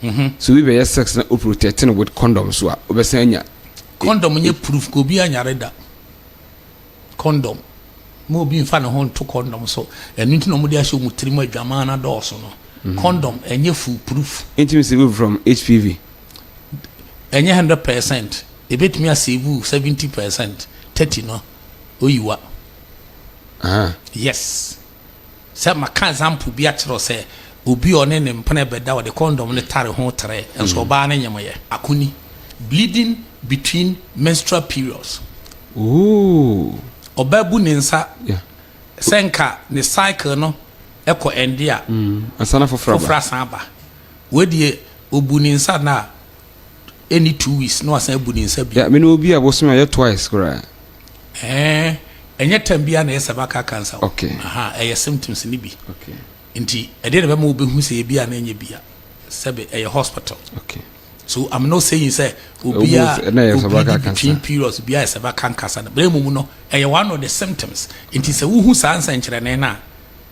Sɛ obi bɛyɛ sex na oprotect no with condom so a ɔbɛsan anya hiv. Condom nyɛ proof ka obi anyare da. Condom ma obi nfa ne ho nto condom so ɛno nti na ɔmo de ahyɛ ɔmo tirim adwaman no adɔɔso no. Condom ɛnyɛ full proof. Entumi save wo from HPV. Ɛnyɛ hundred percent ebetumi a save wo seventy percent thirty no oyi wa. Yes. Sɛ maka example bi akyerɛ wo sɛ obi a ɔne ne mpena bɛda ɔde condom no tare ho tere nso ɔbaa no nyem yɛ. Ako ni, Bleeding between menstrual periods. Ooh. Ɔbaa bu ne nsa Yeah. sɛ nka ne cycle no kɔ ɛnde a Ansa na foforɔ aba. foforɔ asan aba. Wei deɛ obu ne nsa no a ɛni two weeks na wasan abu ne nsa bi. Yeah, me ne obi a bosome ayɛ twice koraa. Ɛɛ, ɛnyɛ time biara na ɛyɛ cervical cancer o. Okay. Aha, ɛyɛ symptoms ne bi. Okay. Nti, ɛdeɛ na ɛbɛma wobɛhu sɛ ebi a na ɛnyɛ bia. Sɛbe, ɛyɛ hospital. Okay. So, I'm not saying sɛ obi a obi di between periods biara yɛ cervical cancer. Bere mu no, ɛyɛ one of the symptoms. Nti sɛ wohu saa nsɛnkyerɛnne no a,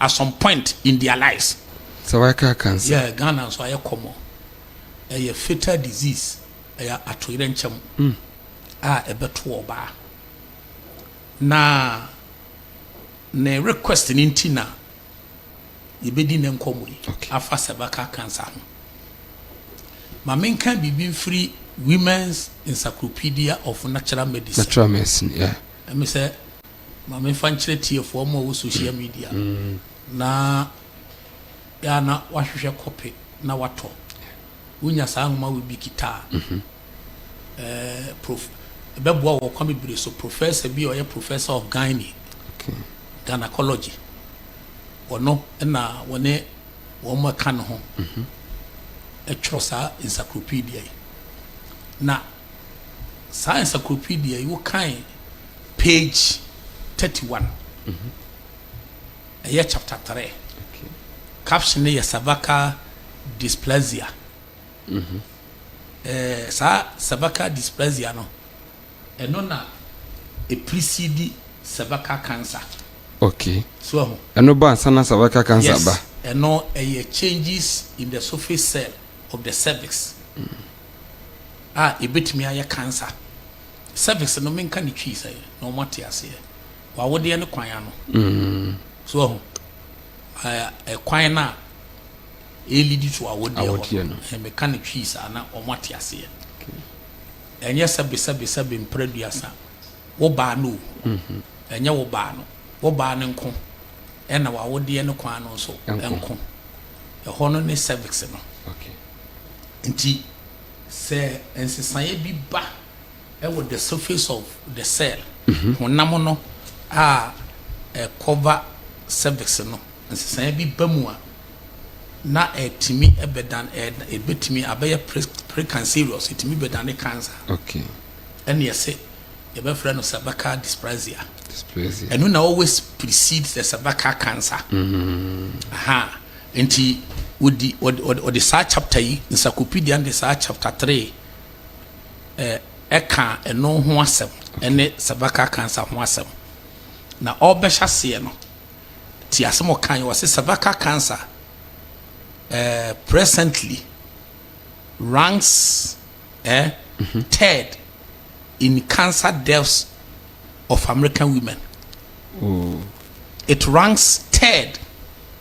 at some point in their lives. Cervical cancer. Yeah, Ghana nso ayɛ kɔmɔ. Ɛyɛ fatal disease, ɛyɛ atoyerɛnkyɛm mm. a ɛbɛto ɔbaa. Na ne request no nti na yɛbɛdi ne nkɔmmɔ yi okay. afa cervical cancer ho. Ma menka biribi mfiri Women's Encyclopedia of Natural Medicine. Natural Medicine, yeah. Ɛmi sɛ ma me nfa nkyerɛ tiefo ɔmo a ɔwɔ sohyia midia na yɛ a na wahwehwɛ kɔpe na watɔ. Wonya saa nwoma wei bi kita a, ɛɛ prof ɛbɛboa wɔ ɔkwan bebree so. Professor bi a ɔyɛ Professor of Gynae Gynecology ɔno na wɔne wɔn a ɛka ne ho ɛtwerɛ saa encyclopedia yi na. saa encyclopedia yi wo kan page thirty one ɛyɛ chapter three caption no yɛ cervical dysplasia ɛɛ saa cervical dysplasia no ɛno na eprisidi cervical cancer okay so ɛho ɛno ba ansa na cervical cancer yes. ba ɛno ɛyɛ changes in the surface cell of the cervix. Mm. a ebetumi ayɛ cancer cervix no menka ne twi sɛ na wɔn ate aseɛ wawodeɛ ne kwan ano mm. so ɔho ɛkwan no a ɛlidi to awodeɛ hɔ meka ne twi saa na wɔn ate aseɛ ɛnyɛ sɛbesɛbesɛbe mpra duasa wo baa no o mm-hmm. ɛnyɛ wo baa no wo baa no nko ɛna wawodeɛ ne kwan no nso nko ɛhɔ no ne cervix no Enti sɛ nsesaeɛ bi ba wɔ the surface of the cell, honam no a ɛkɔva cervix no, nsesaeɛ bi ba mu a, na ɛtumi bɛdan, ɛbɛtumi abɛyɛ precancerous, ɛtumi bɛdane cancer. Okay. Ɛne ɛse, yɛbɛfrɛ no cervical dysplasia. Dysplasia. Ɛno na always precedes the cervical cancer. Mm-hmm. Aha. Nti ɔdi ɔde ɔde saa chapter yi, Nsakopedia no de saa chapter three ɛ ɛka ɛno ho asɛm ɛne cervical cancer ho asɛm. Na ɔrebɛhyɛ aseɛ no, ti asɛm a ɔkaeɛ, ɔse cervical cancer ɛ presently ranks ɛ third in cancer deaths of American women. It ranks third.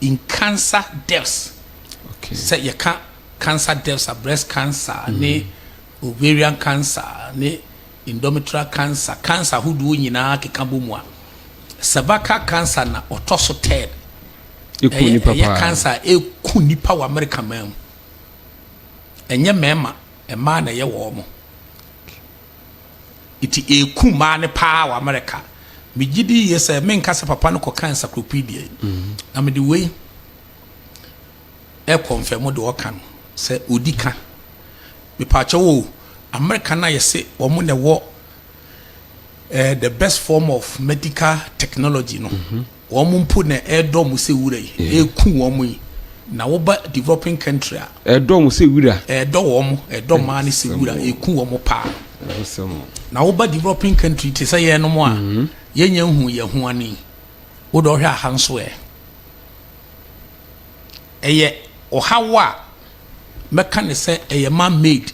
In cancer deaths, sɛ yɛka cancer deaths a, breast cancer ne ovarian cancer ne endometrial cancer, cancer ahodoɔ nyinaa keka bɔ mu a, cervical cancer na ɔtɔ so third. Ɛku nipa paa. Ɛyɛ cancer a ɛku nipa wɔ America man mu. Ɛnyɛ mmarima, mmaa na ɛyɛ wɔn. Enti ɛreku mmaa no paa wɔ Amerika. Megye di yie sɛ menka sɛ papa no kɔka encyclopedia yi, na mede wei rekɔnfɛmo deɛ ɔka no sɛ ɔdi ka. Mepaakyɛw o, Amerika no a yɛse wɔn na ɛwɔ eh, the best form of medical technology no, Wɔn mpo na ɛredɔ mo sɛ wura yi, ɛreku wɔn yi, na woba developing country a. Ɛredɔ wɔn sɛ wura. Ɛredɔ wɔn, ɛredɔ mmaa no sɛ wura, ɛreku wɔn paa. Na woba developing country te sɛ yɛnom a, yɛnya nhu yɛn ho ani. Wo de ɔhwɛ aha nso ɛ. Ɛyɛ ɔhaw a mɛka ne sɛ ɛyɛ man made.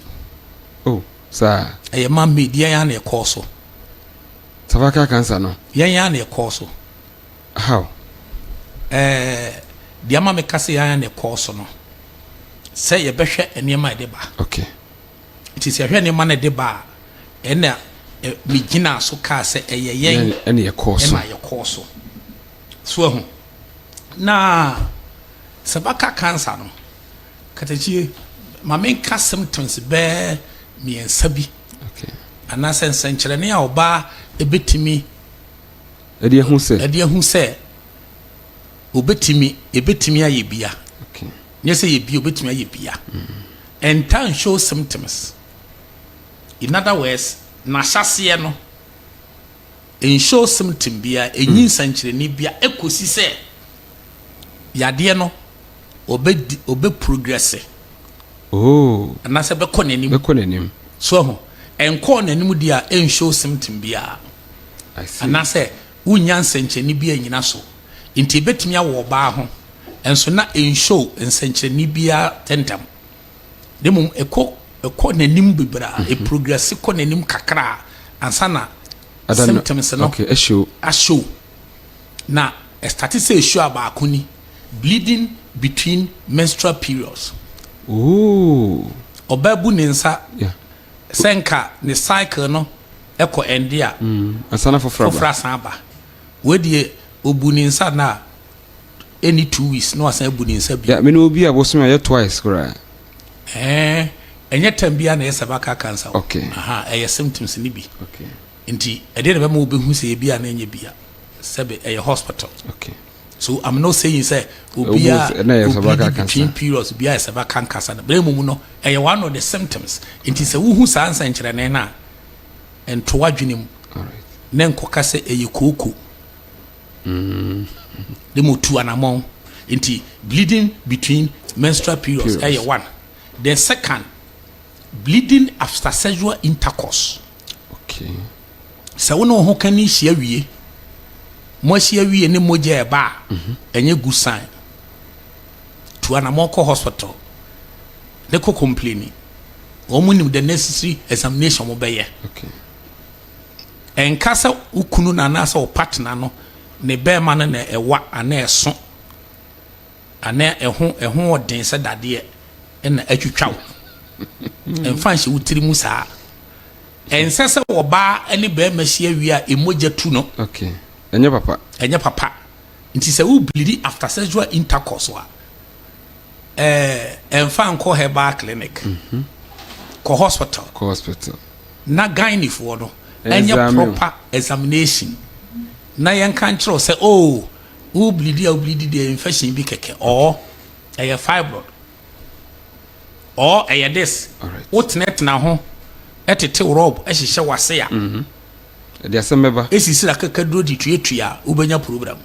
Oh, saa. Ɛyɛ man made, yɛn ara na ɛkɔɔ so. Cervical cancer no. Yɛn ara na ɛkɔɔ so. How? Ɛɛ, deɛ ama meka sɛ yɛn ara na ɛkɔɔ so no, sɛ yɛbɛhwɛ nneɛma a ɛde ba. Okay. Nti sɛ yɛhwɛ nneɛma no ɛde ba a, ɛna megyinaa so kaa sɛ ɛyɛ yɛn ɛna yɛkɔɔ so. Ɛna yɛkɔɔ so. So ahu. Na cervical cancer no, katakyie, ma menka symptoms bɛɛ mmiɛnsa bi. Anaasɛ nsɛnkyerɛnne a ɔbaa bɛtumi de ahu sɛ ɔbɛtumi ayɛ bia. Nyɛ sɛ yɛ bia, ɔbɛtumi ayɛ bia. And time shows symptoms. In other words, n'ahyɛseɛ no, nshow symptom bia, ɛnyi nsɛnkyerɛnne bia, ɛkɔsi sɛ. Yadeɛ no, ɔbɛdi, ɔbɛprogrɛse. Oh. Anaasɛ bɛkɔ n'anim. Bɛkɔ n'anim. So ahu, ɛnkɔɔ n'anim deɛ a, ɛnnshow symptom biara. I see. Anaasɛ wonnya nsɛnkyerɛnne bi annyina so. Nti ɛbɛtumi awɔ ɔbaa ho, nso na ɛnnshow nsɛnkyerɛnne biara tɛntɛm. Na mmom ɛkɔ, ɛkɔ n'anim bebree a, ɛprogrɛse kɔ n'anim kakra a, ansa na symptoms no. Okay, ɛshow. Ashow. na ɛstate sɛ ɛsu a baako ni, bleeding between menstrual periods. Ooh. Ɔbaa bu ne nsa yeah. sɛ nka ne cycle no ɛkɔ ɛnde a mm. asana foforɔ asan aba wei deɛ ɔbu ne nsa no a ɛni two weeks na wasan abu ne nsa bi yeah, mene obi a bosome ayɛ twice koraa ɛnyɛ tam biara na ɛyɛ cervical cancer okay. Aha, ɛyɛ symptoms no bi okay. Nti ɛdeɛ na ɛbɛma wobehu sɛ yɛ bia na ɛnyɛ bia sɛbe ɛyɛ hospital okay so I'm not saying sɛ obia obidi between periods bia ɛsɛ ba kankasa no bere mu no ɛyɛ one of the symptoms nti sɛ wohu saa nsɛnkyerɛnne no a ɛnto adwene mu na nkɔka sɛ ɛyɛ kooko de mu tu anamɔn nti bleeding between menstrual periods ɛyɛ one the second Bleeding after sexual intercourse. Okay. Sɛ wo ne wo ho ka ni hyia wie, mo ahyia wie ne mogya ɛba a, mhm. ɛnyɛ good sign. Tu anamɔ kɔ hospital ne kɔ complaini. Wɔn nim the necessary examination wɔn bɛyɛ. Okay. Ɛnka sɛ wo kunu na anaasɛ wo partner no ne bɛrima no na ɛwa anaa ɛso. Anaa ɛho ɛho wɔ den sɛ dadeɛ na atwitwa wo. Ɛmfa nhyɛ wo tiri mu saa. Ɛnsɛ sɛ ɔbaa ne barima hyia wie a mmogya tu no. Okay. Ɛnyɛ papa. Ɛnyɛ papa. Nti sɛ wo bleedi after sexual intercourse a, ɛɛ ɛmfa nkɔ herbal clinic. Mhm. Kɔ hospital. Kɔ hospital. Na gynefoɔ no ɛnyɛ proper examination. Na yɛnka nkyerɛ wo sɛ oh Wo bleedi a wo bleedi deɛ infection bi kɛkɛ or ɛyɛ fibroid or ɛyɛ this. Wo tena tena ho ɛtete rub ɛhyehyɛ wase a. Mhm. Ɛde asɛm bɛba. Esisi akakaduro de tua tua a wobɛnya program.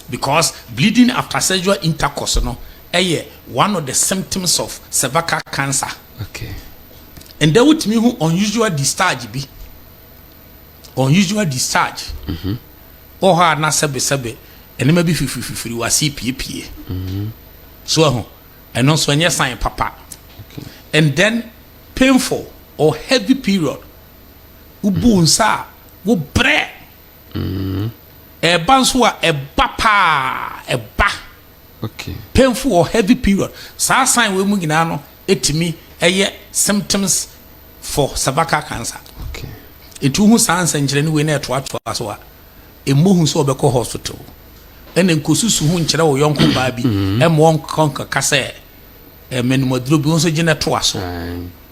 Because bleeding after sexual intercourse no ɛyɛ one of the symptoms of cervical cancer. Okay. And then wotumi hu unusual discharge bi. unusual discharge, wɔ hɔ a na sɛbesɛbe nneɛma bi fifirififiri w'ase piepie. So ahu? Ɛno nso ɛnyɛ sign papa. And then painful or heavy period. Wobu nsa a, wobrɛ. Ɛba nso a, ɛba paa, ɛba. Painful or heavy period. Saa sign wei mu nyinaa no, ɛtumi yɛ symptoms for cervical cancer ɛtu ho saa nsɛnkyerɛnne wei na ɛtoatoa so a ɛmmɔ hu sɛ ɔbɛkɔ hospital ɛna nkɔsusu ho nkyerɛ wo yɔnko baa bi mm-hmm. ɛma ɔnkɔ nkaka sɛ mmanumaduro bi wo nso gyina toa so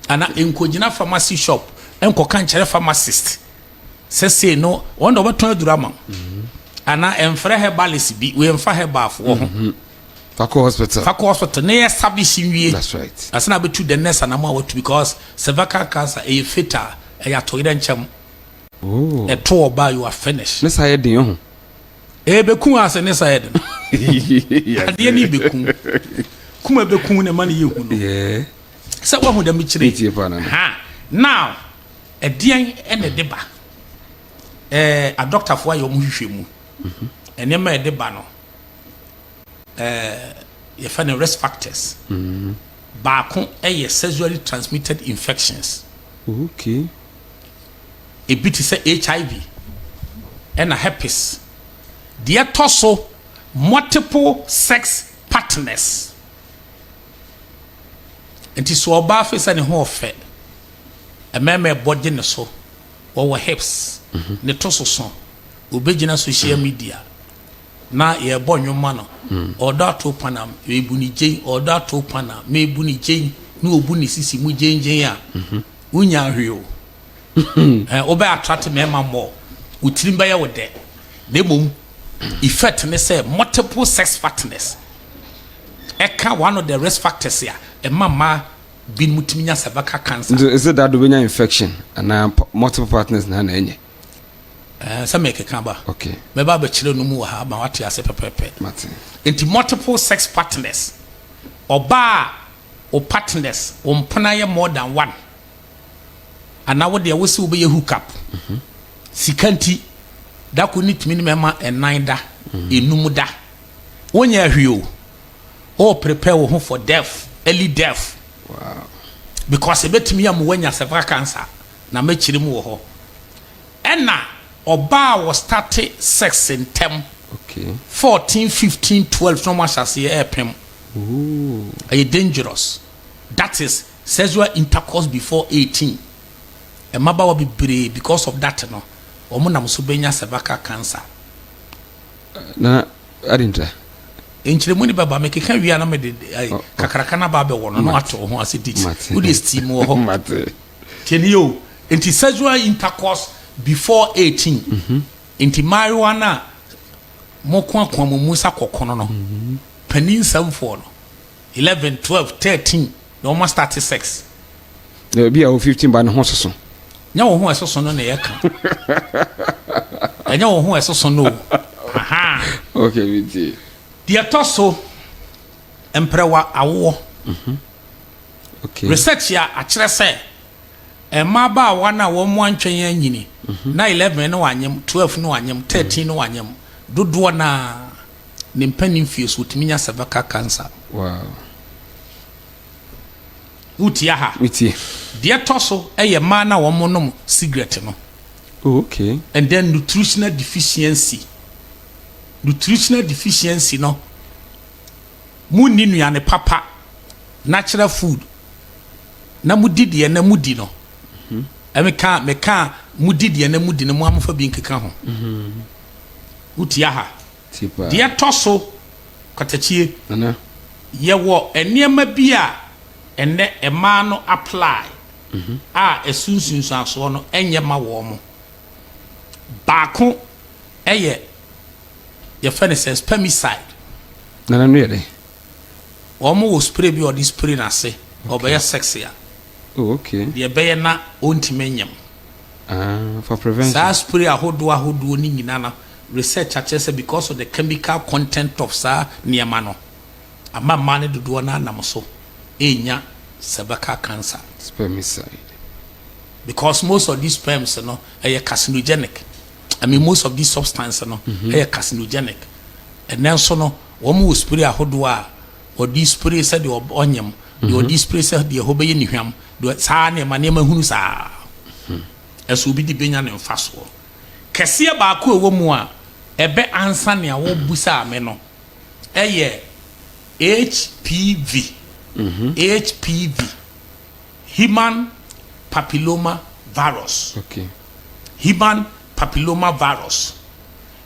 ana nkɔgyina pharmacy shop ɛnkɔka nkyerɛ pharmacist sɛ sei no wɔn na wɔbɛtɔn aduro ama mm-hmm. ana ɛmfrɛ herbalist bi wɔmfa herbalfoɔ ho mm-hmm. Fa kɔ hospital. Fa kɔ hospital na yɛ service nwie. That's right. Ansa na abɛtu the next anamɔ a watu because cervical cancer ɛyɛ fatal, ɛyɛ atoyerɛ nkyɛm. Oh. Ɛto ɔbaa you are finished. Ne sa yɛ den ɔho. Ɛbɛku asɛ ne sa yɛ den. Adeɛ ne bɛku. Kuma bɛku na ɛma ne yɛ hu no. Yeah. Sɛ wahu dɛ mekyerɛ. Metie pa na. Ha. Now, ɛdeɛn ɛna ɛde ba? Eh, adɔktafoɔ ayɛ wɔn hwehwɛ mu. Ɛnneɛma ɛde ba no. yɛfɛ no risk factors baako yɛ sexually transmitted infections okay ebi te sɛ hiv ɛna herpes deɛ tɔ so multiple sex partners nti so ɔbaa fe sɛ ne ho ɔfɛ mmarima ɛbɔ gye ne so wɔwɔ hips ne to so so obɛgyina social media Na yɛbɔ nnwom ma no. Ɔɔdɔ ato pan a, mebu no gyen. Ɔɔdɔ ato pan a, mebu no gyen. Na obu ne sisi mu gyengyen a, wunnya hwee o. Ɛɛ, wobɛ attract mmarima more. Wo tirim bɛyɛ wo dɛ. Na mmom, effect ne sɛ multiple sex partners. Ɛka one of the risk factors a ɛma mmaa binom tumi nya cervical cancer. Nti, is it that wobɛnya infection anaa multiple partners na na ɛnyɛ? Ɛɛ, sɛ mekeka ba. Okay. Mɛba abɛkyerɛ no mu wɔ ha ma wate ase pɛpɛɛpɛ. Mate. Nti multiple sex partners, ɔbaa a wo partners, wo mpena yɛ more than one, anaa wo deɛ wose wobɛyɛ hook up, mhm. sika nti, da ko ne tumi ne mɛma ɛnan da, mhm. enum da. Wonyɛ ahwi o. O prepare wo ho for death, early death. Wow. Because ebetumi amu wanya cervical cancer. na mɛkyere mu wɔ hɔ ɛna ɔbaa wɔ starte sex ntɛm fourteen fifteen twelve na ɔmo ahyɛ aseɛ ɛɛpem ɛyɛ dangerous that is sexual intercourse before eighteen ɛmabawa bebree because of that no ɔmo nam so bɛnya cervical cancer na adintra nkyerɛmu ne bɛba mekeka wie a na mede kakraka no aba abɛwɔ no na wate wo ho ase dit wode steam wɔ hɔ Tie nie o, enti sexual intercourse before eighteen, enti mmaayewa no a mokoakoa mo mu sa kɔkono no, panin nsɛmfoɔ no, eleven, twelve, thirteen na wɔn astate sex. Na ebi a wɔ fifteen ba ne ho soso. Nyɛ wo ho a ɛsoso no na yɛka. Ɛnyɛ wo ho a ɛsoso no o. Aha. Okay, mi tie. Deɛ ɛtɔ so, mprɛwa awoɔ. Research a akyerɛ sɛ mmabaawa no a wɔantwɛn anyini na eleven no anyem, twelve no anyem, thirteen no anyem dodoɔ no ara ne mpanin mfeɛ so wɔtumi nya cervical cancer. Wow. Wotie aha? Wotie. Deɛ ɛtɔ so yɛ mmaa no a wɔnom cigarette no. Oh, okay. And then nutritional deficiency. Nutritional deficiency no. Mo nni nnuane papa, natural food, na mo di deɛ na mo di no. Ɛmi ka me ka mo di deɛ na mo di no mo amofa bi nkeka ho. Wo tia ha. Deɛ tɔ so kwatakyie. Yɛ wɔ nneɛma bi a ɛnɛ ɛmaa no apply a ɛso nsunsuansoɔ no ɛnyɛ ma wɔn mo. Baako ɛyɛ yɛfrɛ no sɛ spermicide. Na n'ano yɛ dɛn? Wɔn wɔ spray bi a wɔde spray n'ase. Okay. Ɔbɛyɛ sex a. Oh, okay. Deɛ ɛbɛyɛ na ɔntumi nyɛ mu. Ah, for prevention. Saa spray ahodoɔ ahodoɔ ne nyinaa no, research akyerɛ sɛ because of the chemical content of saa nneɛma no, ama mmaa no dodoɔ no anam so ɛrenya cervical cancer. Spermicide. Because most of these sperms no, ɛyɛ carcinogenic. I mean most of these substances no mm-hmm. ɛyɛ carcinogenic ɛnɛ nso no wɔn wɔ spray ahodoɔ a wɔde spray sɛ deɛ ɔnyam deɛ mm-hmm. ɔde spray sɛ deɛ ɛhɔ bɛyɛ ne hwam deɛ saa nneɛma nneɛma hunu saa hmm. ɛso obi de benya ne nfa soɔ kɛseɛ baako ɛwɔ mu a ɛbɛ ansa nea wɔbu saa me no ɛyɛ hpv mm-hmm. hpv. Human Papilloma Virus, Human Papilloma Virus,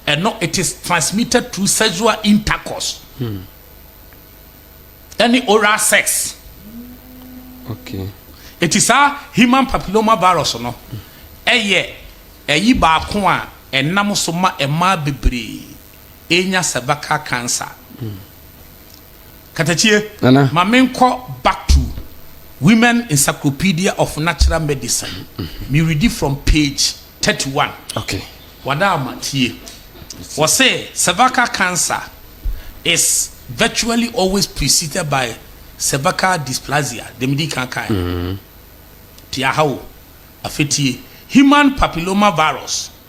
ɛno it is transmitted through sexual intercourse ɛne hmm. oral sex ɛti saa Human Papilloma Virus no ɛyɛ ɛyi baako a ɛnam so ma ɛmaa bebree enya cervical cancer katakyie ma me nkɔ back to women encyclopedia of natural medicine me redi from page thirty one okay wada ama tie wɔ se cervical cancer is virtually always preceded by cervical dysplasia dem di kan kan mm-hmm. ti aha o afetie human papilloma virus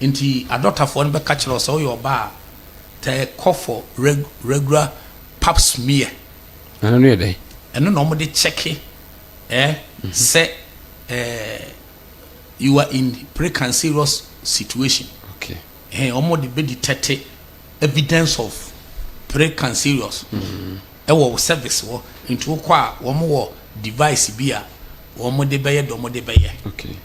Enti adɔtafoɔ no bɛka kyerɛ wo sɛ woyɛ ɔbaa a, tɛɛ kɔ for reg regular pap smear. Ɛno no yɛ dɛn? Ɛno na wɔde kyɛke eh, sɛ eh, you are in precancerous situation. Okay. Eh, wɔde bɛ detect evidence of precancerous ɛwɔ wo service hɔ. Nti wokɔ a, wɔn wɔ device bi a wɔde bɛyɛ deɛ wɔde bɛyɛ. Okay.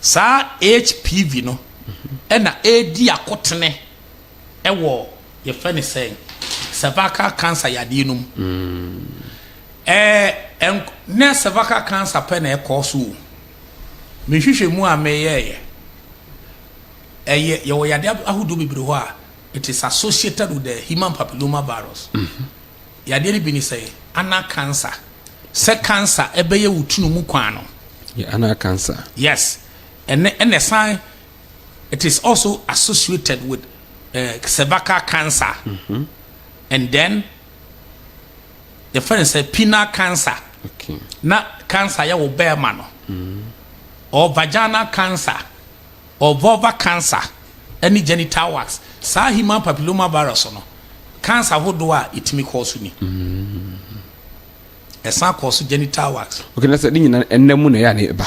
Saa HPV no na ɛredi akotene wɔ yɛfrɛ no sɛn, cervical cancer yadeɛ no mu. Ɛɛ nk nyɛ cervical cancer pɛ na ɛkɔ so o. Me nhwehwɛmu a meyɛeɛ, ɛyɛ yɛwɔ yadeɛ ahodoɔ bebree hɔ a it is associated with the human papilloma virus. Yadeɛ no bi ne sɛ, anal cancer, sɛ cancer bɛyɛ wo tunu mu kwan no. Yɛ anal cancer. Yes, ɛnɛ ɛna ɛsan it is also associated with uh, cervical cancer. Mm -hmm. And then the friend said penile cancer. Okay. Na cancer yɛ wo bɛrima no. Mm -hmm. Or vaginal cancer. Wɔ vulvar cancer ne genital wax, saa human papilloma virus no cancer hodoɔ a ɛtumi kɔɔ so ni. Ɛsan kɔɔ so genital wax. Okay, na sɛ ne nyinaa ɛnna mu na ɛyɛ a na ɛba.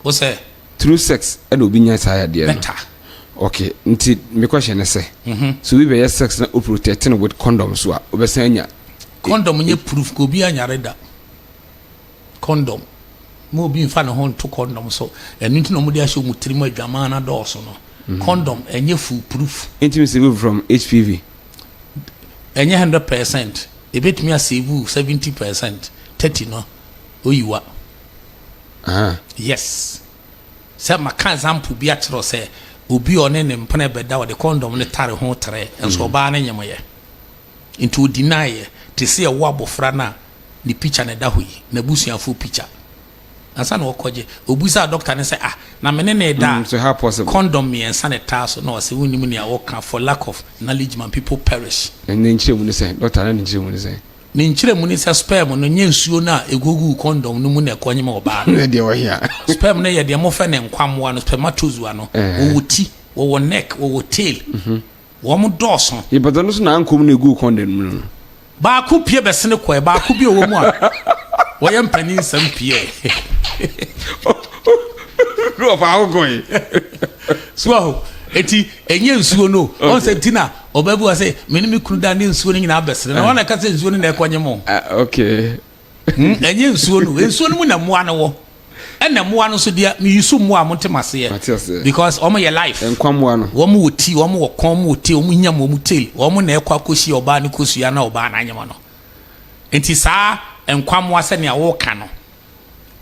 Wo sɛ? Through sex ɛna obi nya saa yadeɛ no. Better. Okay, nti me question ne sɛ, mm-hmm. so obi bɛyɛ sex na o protect no with condom so a, obɛsan anya. Condom nyɛ proof ka obi anyare da. kɔndɔm. Mma obi mfa ne ho nto kɔndɔm so. Ɛno nti na wɔde ahyɛ wɔn tirim adwaman no adɔɔso no. Kɔndɔm, ɛnyɛ fool proof. Entumi save wo from HPV. Ɛnyɛ hundred percent. Ebetumi a save wo seventy percent, thirty no oyi wa. Yes. Sɛ maka example bi akyerɛ wo sɛ obi a ɔne ne mpena bɛda ɔde kɔndɔm no tare ho trɛ nso ɔbaa no nyem yɛ. Nti o deny yɛ te sɛ ɛwo abofra no a ne picture na ɛda hɔ yi, n'abusuafoɔ picture. Ansa na ɔkɔgye, ɔbisaa doctor no sɛ, ah, na me ne no reda a, condom mmiɛnsa na ɛtaa so? Na ɔse, wonnim nea woka, for lack of knowledge my people perish. Na ne nkyerɛmu ne sɛn? Doctor, na ne nkyerɛmu ne sɛn? Ne nkyerɛmu ne sɛ sperm no nyɛ nsuo no a ɛgugu condom no mu na ɛkɔnyem ɔbaa no. Ɛdeɛ wɔ he a? Sperm no yɛ deɛ mofrɛ no nkwammoa no, spermatozoa no. Wɔwɔ ti, wɔwɔ neck, wɔwɔ tail. Wɔn dɔɔso. Yɛpata no so na ankom na ɛguu condom no mu no. Baako pue bɛsene kɔɛ. Baako bi ɔwɔ mu a, wɔyɛ mpanin nsɛm peɛ. Ne ɔfa ho kɔe. So aho, eti ɛnyɛ nsuo no. Ɔn sɛ ti na ɔbaa bi wɔ sɛ, me ne me kunu da ne nsuo no nyinaa bɛsene. Na wɔn na ɛka sɛ nsuo no na ɛkɔnye mo. Ah, okay. Hmm, ɛnyɛ nsuo no nsuo no mu na mmoa no wɔ ɛna mmoa no nso deɛ meyusu mmoa a montem aseɛ because wɔn yɛ life nkwa mmoa no wɔn wɔ ti wɔn wɔ kɔn wɔn wɔ te wɔn nyam wɔn tail wɔn na ɛkɔ akɔhyia ɔbaa no kosua na ɔbaa no anyama no nti saa nkwa mmoa sɛnea wɔka no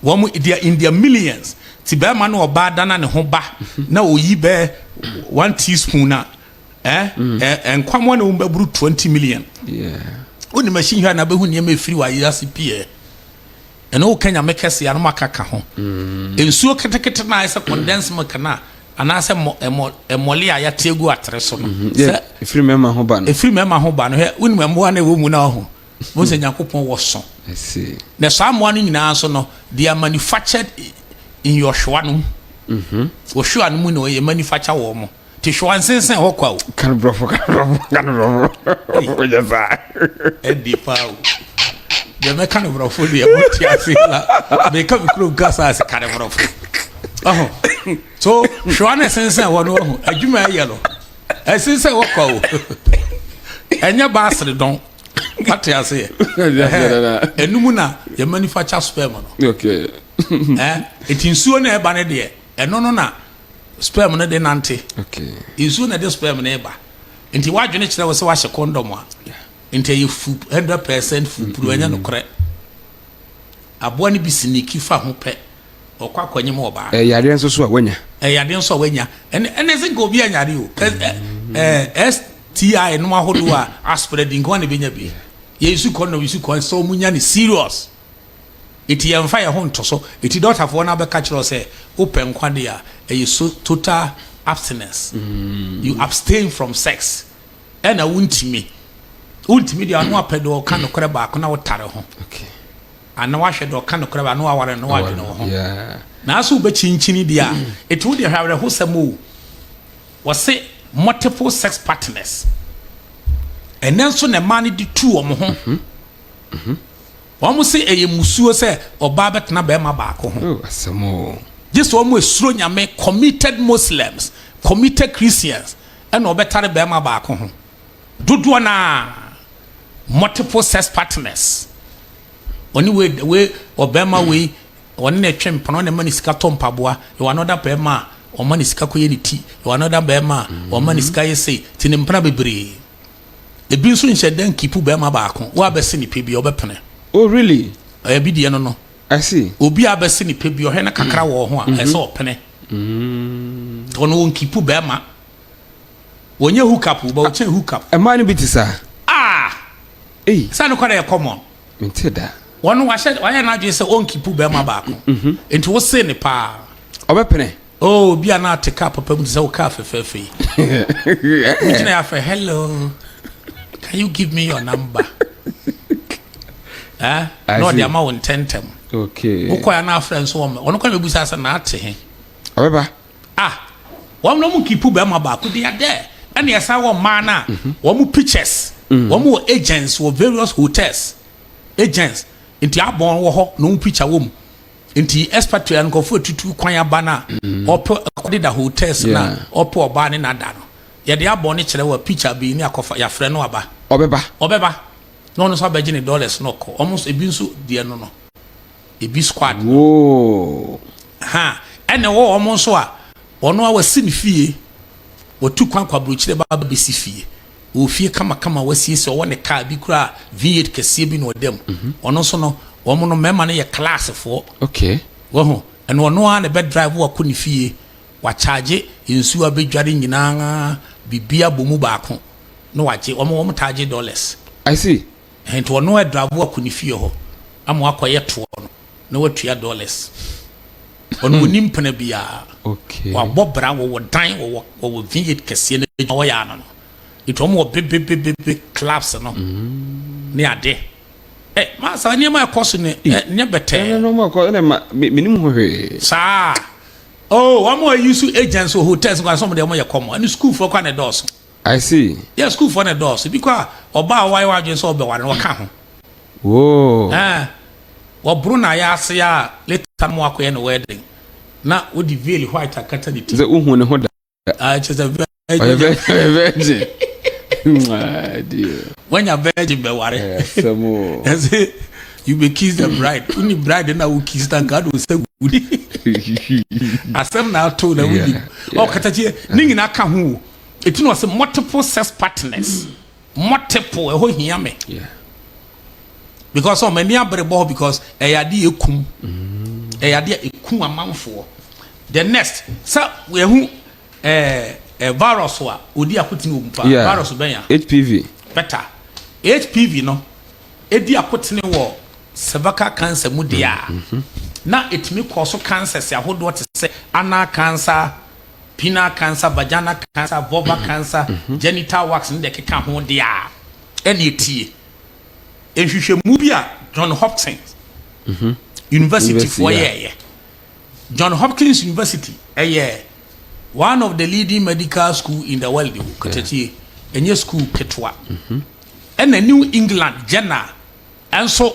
wɔn deɛ in their millions ti bɛrima no ɔbaa dana ne ho ba na oyi bɛɛ one teaspoon na Eh? Nkwa mu na wɔn bɛburu twenty million. Wonni machine hwɛ na bɛhu nneɛma efiri wɔ ayɛ ase pii ɛ. Ɛna woka nyame kɛse anam akaka ho. Mm. Nsuo ketekete na ayɛ sɛ condensed milk na anaasɛ mmɔle a yɛate agu atere so no. Mm-hmm. Sɛ efiri mmarima ho ba no. Efiri mmarima ho ba no hwɛ wonim mmoa na ɛwɔ mu na ɔho. Mo sɛ Nyankopɔn wɔ so. Na saa mmoa no nyinaa nso no they are manufactured in your hwewa no mu. Mm-hmm. Wɔ hwewa no mu na wɔyɛ manufacture wɔn mo. Ti hwɛ wansensɛn hɔ kwa o. Kan brɔfo kan brɔfo kan brɔfo. Ko yɛ saa. Ɛdi paa o. Deɛ mɛ kan brɔfo deɛ mo ti ase la. Mɛ ka mi kuro nka saa se kan brɔfo. Ɔho. So hwɛ wa ne sensɛn hɔ no ɔho. Adwuma ɛyɛ no. Ɛsensɛn hɔ kwa o. Ɛnyɛ baasere dɔn. Ate ase yɛ. Ɛnumu na yɛ manifa kya sperm no. Okay. Ɛti nsuo na ɛba ne deɛ. Ɛno no na sperm no de nante. Nsuo na ɛde sperm no reba. Nti w'adwene kyerɛ wo sɛ wahyɛ kɔndɔm a, nti ɛyɛ fu hundred percent fupuru, ɛnyɛ nokorɛ. Aboa no bi siniki fa ho pɛ, ɔkɔ akɔnyem ɔbaa. Ɛyɛ yadeɛ nso so a wanya. Ɛyɛ yadeɛ nso a wanya. Ɛne ɛne sɛ nka obi anyare o. Kɛ ɛ ɛ STI nom ahodoɔ a asperɛ di nka wɔn na ebenya bi. Yɛyi su kɔndɔm yi su kɔn sɛ wɔn nya no serious. Enti yɛmfa yɛn ho nto so. Enti dɔktafoɔ no abɛka akyerɛ wo sɛ wopɛ nkwa deɛ a, ɛyɛ so total abstinence. You abstain from sex. Ɛna wontumi. Wontumi deɛ a, ano apɛ deɛ ɔka nokorɛ baako na wotare ho. Ana wahwɛ deɛ ɔka nokorɛ baako na waware no na wadwene wo ho. Nanso wobɛkyinkyini deɛ a, enti wo deɛ hwɛ awerɛhosɛm o. Wɔse multiple sex partners. Ɛnɛ nso na mmaa no de tu wɔn ho. Wɔse ɛyɛ musuo sɛ ɔbaa bɛtena barima baako ho. Oh asɛm oo. Gye sɛ wɔn a ɛsuro Nyame, committed Muslims, committed Christians, ɛna ɔbɛtare barima baako ho. Dodoɔ no ara, multiple sex partners. Ɔne wei, wei, ɔbarima wei, ɔne no twe mpena, ɔne ma no sika tɔ mpaboa, yɛwɔ another barima a, ɔma no sika kɔyɛ ne ti, yɛwɔ another barima a, ɔma no sika yɛ sei, nti ne mpena bebree. Ebi nso nhyɛ da nkipu bɛrima baako. Wo a bɛse ne pɛ bi a, wobɛpene? Oh, really? Ɛyɛ bi deɛ no no. I see. Obi a bɛse ne pɛ bi, ɔhwɛ no kakra wɔ ho a, ɛyɛ sɛ ɔpene. Ɔno ɔnkipu bɛrima. Wɔnyɛ hook up o, but ɔkyɛn hook up. Mmaa no bi te saa. Ah! Ei. Sɛ no kɔdɛ yɛ common. Mente da. Wɔn no wahyɛ wayɛ n'adwene sɛ ɔnkipu bɛrima baako. Nti wose ne paa. Ɔbɛpene? Oh obi a na ate car papa mu te sɛ wo car fɛfɛɛfɛ yi. Wogyina afɛ hello can you give me your number? Eh? Na ɔde ama wo ntɛntɛm. Okay. Wokɔ ya na afrɛ nso wɔn wɔn kɔ bɛbusa sɛ na ate he. Ɔbɛba. Ah wɔn na wɔn kipu bɛrima baako deɛ dɛ ɛna ɛsan wɔ mmaa na mhm. wɔn pictures mhm. wɔn wɔ agents wɔ various hotels agents nti abɔn wɔ hɔ na wɔn picture wɔ mu. Nti expatriate nkorɔfo etutu kwan aba no a wɔpɛ kɔ deda hotels no a wɔpɛ ɔbaa ne n'ada no yɛde abɔ ne kyerɛ wɔ picture bi ne akɔfa yɛafrɛ no aba. Ɔbɛba. Ɔbɛba na ɔno nso abɛgye ne dollars na ɔkɔ wɔn nso ebi nso deɛ no no ebi squad no ha ɛna ɛwɔ wɔn nso a ɔno a wasi ne fie wɔtu kwan kɔ aburokyire ba abɛsi fie Ɔwɔ fie kamakama a wasiesie, ɔwɔ ne kaa bi koraa a V8 kɛseɛ bi na ɔda mu. Ɔno nso no, wɔn no mmarima no yɛ Classfoɔ. Okay. Wahu? Ɛna ɔno ara na ɛbɛ drive wo akɔ ne fie, wakyagye nsuo a bɛdware nyinaa, biribiara abɔ mu baako na wagye. Wɔn, wɔn taa gye dollars. I see. Ɛhɛn, nti ɔno ara ɛdrive wo akɔ ne fie hɔ ama woakɔyɛ toɔ no. na watua dollars. Ɔno ɔnni mpena biara. Wabɔ bra, wɔwɔ dan, wɔwɔ wɔwɔ vineyard kɛseɛ no adwuma wɔyɛ ano no. Nti wɔn wɔ bebebebebe clubs no mm. ne ade. Ɛ eh, maa saa nneɛma ɛkɔ so ne ɛ nyɛ bɛtɛɛ. Ɛna na wɔn akɔ ɛna ma menim ho hwee. Saa. Oh, wɔn a wɔyi so agents wɔ hotels nkwa sɛ wɔn deɛ wɔn yɛ kɔmɔ ɛne sukuufoɔ kwan na ɛdɔɔso. I see. Yɛ sukuufoɔ na ɛdɔɔso. Ebi koraa ɔbaa a wayɛ w'adwene sɛ ɔbɛware no wɔka ho. Woo. Ɛɛ, wɔboro n'ayaase a later no ma wakɔyɛ no wedding na wode veil white akata ne ti. Sɛ wohu ne ho da. Ah, kyerɛ sɛ virgin. Ɔyɛ virgin. virgin. Mwah, dear. Wanya virgin bɛware. Ɛsɛm o. Ɛsɛ you be kiss the bride. Woni bride na wo kiss na nka ade ɔsɛ wudi. Asɛm na ato na wudi. Ɔkata kyerɛ ne nyinaa ka ho o. Eti na ɔsɛ multiple sex partners mm. multiple ɛhɔ hia me yeah. because ɔmo ani abere bɔ hɔ because ɛyɛ adeɛ ekum mm. ɛyɛ adeɛ ekum amanfoɔ the next sɛ ɛho ɛɛ ɛ virus a odi akotene wɔ mu paa yeah. virus bɛn ya hpv bɛta hpv no edi akotene wɔ cervical cancer mu deɛ a mm-hmm. na etumi kɔɔ so cancers ahodoɔ te sɛ anal cancer. penile cancer, vaginal cancer, vulvar cancer, genital wax ne deɛ ɛkeka ho deɛ a, ɛnneɛ tie nhwehwɛmu bi a John Hopkins Universityfoɔ yɛeɛ. John Hopkins University yɛ one of the leading medical school in the world o, katatie, ɛnyɛ school ketewa. Ɛna New England Journal nso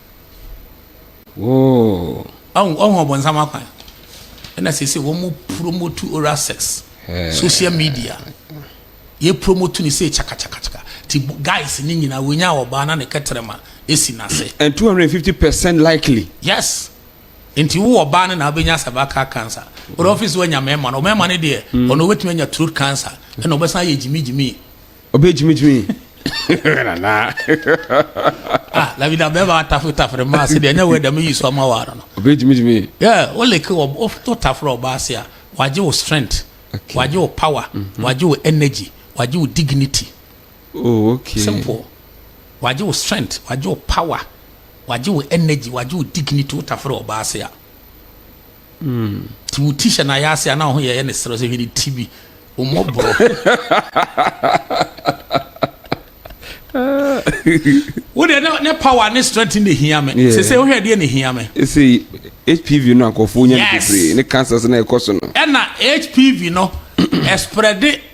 Whoa. Ɔn ɔn ɔbɔnsam akwan. Ɛna sese wɔn mo promote oral sex. Hey. Social media. Yɛ promote ni se chaka chaka chaka. Ti guys ni nyina wonya ɔbaa na ne kɛtrɛma esi n'ase. And 250 percent likely. Yes. Nti wo ɔbaa ne na abenya cervical cancer. Ɔdɔ office wanya mɛma no. Mɛma ne deɛ. Ɔno obetumi anya throat cancer. Ɛna ɔbɛsan ayɛ gyimi gyimi. ɔbɛ gyimi gyimi nana. ah labi na bɛɛ b'a tafe tafere maa se deɛ ɛnyɛ wɛ dɛm yi so ama wa no. ɔbɛ gyimi gyimi. yɛ o leke wɔ o to tafere ɔbaa se a wagye o strength okay. wagye o power mm -hmm. wagye o energy wagye o dignity. oh okay. simple wagye o strength wagye o power wagye o energy wagye o dignity o tafere ɔbaa se a. Ti wo ti hyɛ n'ayɛ ase a na ɔho yɛyɛ ne serɛ sɛ hwɛ ne ti bi ɔmmɔborɔ wo deɛ ne power ne strength ne hia me sɛsɛ wohwɛ deɛ ne hia me hpv no akɔfo nya no bebree ne cancer so na ɛkɔ so no ɛna hpv no ɛsprɛde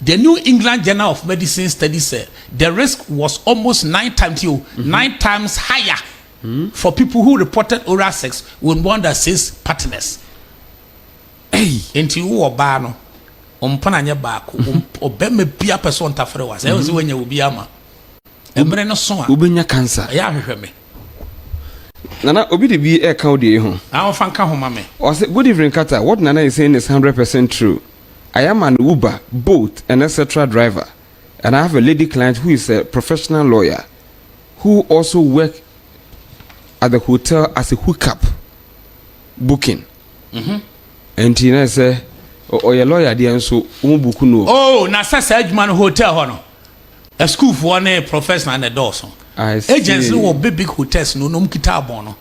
The New England Journal of Medicine study sɛ the risk was almost nine times yo, mm-hmm. nine times higher mm-hmm. for people who reported oral sex with more than six partners. Hey. Nti wo ɔbaa no, ɔmpana nyɛ baako, mm-hmm. ɔbɛma bia pɛ so ɔntafere wa, sɛ ɛwɔ sɛ mm-hmm. wanya obi ama. Ɛmmerɛ no so a. Wobɛnya cancer. Ɛyɛ ahwehwɛ me. Nana, obi de bi ɛka wo deɛ ho. Ahofa nka ho ma me. Ɔsɛ, good evening Kata, what Nana is saying is 100% true. I am an Uber, Bolt and etc driver and I have a lady client who is a professional lawyer who also work at the hotel as a hookup booking. Nti na sɛ ɔyɛ lawyer deɛ nso wɔn buku no. Oh, na sɛ saa adwuma no hotel hɔ no asukuufoɔ ne professional na ɛdɔɔso. Agents no wɔ big big hotels no na wɔn kita abɔn no.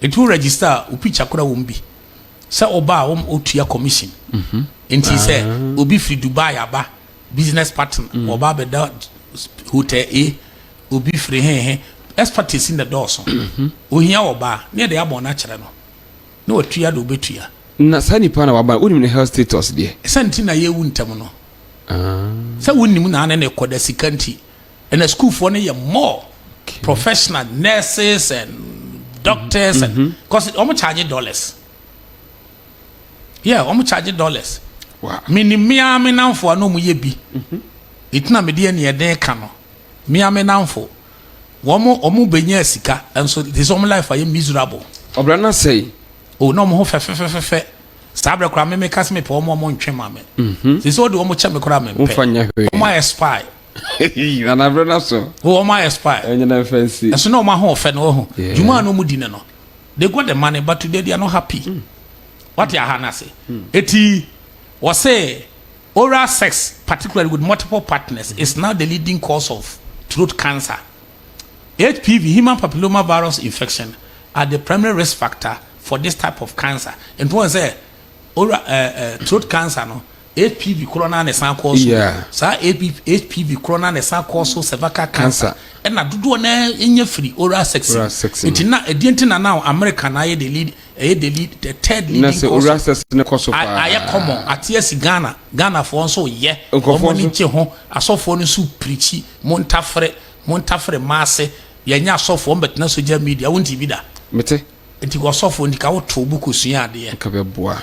Nti wo register a wo picture kora wɔm bi. Sɛ wo ba a wo ma ɔtua commission. Nti sɛ obi firi Dubai aba, business partner, ɔba abɛda hotel A, obi firi he he, expertise na dɔɔso. Ohia ɔba a, ne yɛde abɔ no akyerɛ no, na watua deɛ ɔbɛtua. Na saa nipa na waba no, wonim ne health status deɛ? Sɛ nti na yɛwu ntɛm no. Sɛ wonnim na ne ne kɔ da sika nti. Ɛna sukuufoɔ no yɛ more okay. professional nurses and doctors mm -hmm. and because mm-hmm. wɔn charge dollars yeah wɔn charge dollars wow. mini mmea me nanfo a na wɔn yɛ bi mm-hmm. etina mi deɛ nea ɛden ka no mmea me nanfo wɔn wɔn bɛnya sika nso te sɛ wɔn life ayɛ miserable. ɔbɛrɛ na sɛ yi. o na wɔn ho fɛfɛfɛfɛ saa abirɛ koraa mímí kasi mi pɛ wɔn wɔn ntwe maa mi. sisi o de wɔn kyɛ mi koraa mi pɛ wɔn ayɛ spy. nana bere na so. wɔ wɔn ayɛ spy. ɛnyɛ na nfa nsi. ɛso na wɔn ahoɔfɛ na wɔho. juma na wɔn di ne no they got the money but today they are not happy. Mm. wate aha no ase mm. eti wɔsɛ oral sex particularly with multiple partners mm. is now the leading cause of throat cancer. HPV, human papilloma virus infection, are the primary risk factor for this type of cancer. And one say, oral uh, uh, throat cancer no HPV korɔ no ara na ɛsan kɔɔ so. Yeah. Saa HPV korɔ no ara na ɛsan kɔɔ so cervical cancer. Cancer. Ɛna dodoɔ no ara ɛnya firi oral sex mu. Oral sex mu. Nti na ɛdeɛ nti na now America na ayɛ the lead ɛyɛ the lead the third leading cause. Na sɛ oral sex no kɔ so a- paa. Ayɛ common ate asi Ghana. Ghanafoɔ nso yɛ. Nkurɔfoɔ Wɔn ani nso. gye ho. Asɔfoɔ no nso pirikyi. Montafere, montafere mmaa ase. Yɛnyɛ asɔfoɔ wɔn bɛtena social media. Wonte bi da? Mete. Nti kɔ sɔfoɔ nti ka wotow bo kɔsua adeɛ. Nka bɛboa.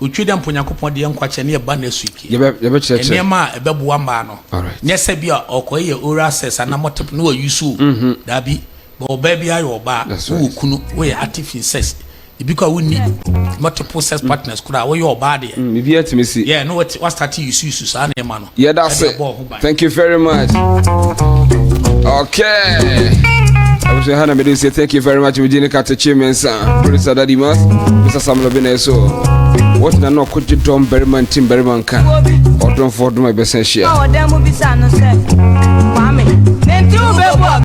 Otwi dɛ mpo Onyankopɔn de yɛ nkwakyɛ ne ɛba na sui pii. Nneɛma a ɛbɛboa mmaa no, nyɛ sɛ bi a ɔkɔ yɛ oral sex anaa multiple na wa use o, daabi, but ɔbaa biara yɛ ɔbaa, wo wɔ kunu, wo yɛ active in sex, ebi kɔ a wo nni multiple sex partners koraa, wo yɛ ɔbaa deɛ, yeah, na wa start use use saa nneɛma no. yɛda ɛde se abɔ ho ban thank you very much okay abusua ha na mede se thank you very much wogye ne katekye me nsa producer daddy mas mr samuel bi na ɛso wɔtena na ɔkɔgye dɔm barima ntim barima nka ɔdomfoɔ dom a ɛbɛsɛ hyia ɔwɔ dɛ mu bisa no sɛ kwame ne nti wobɛbu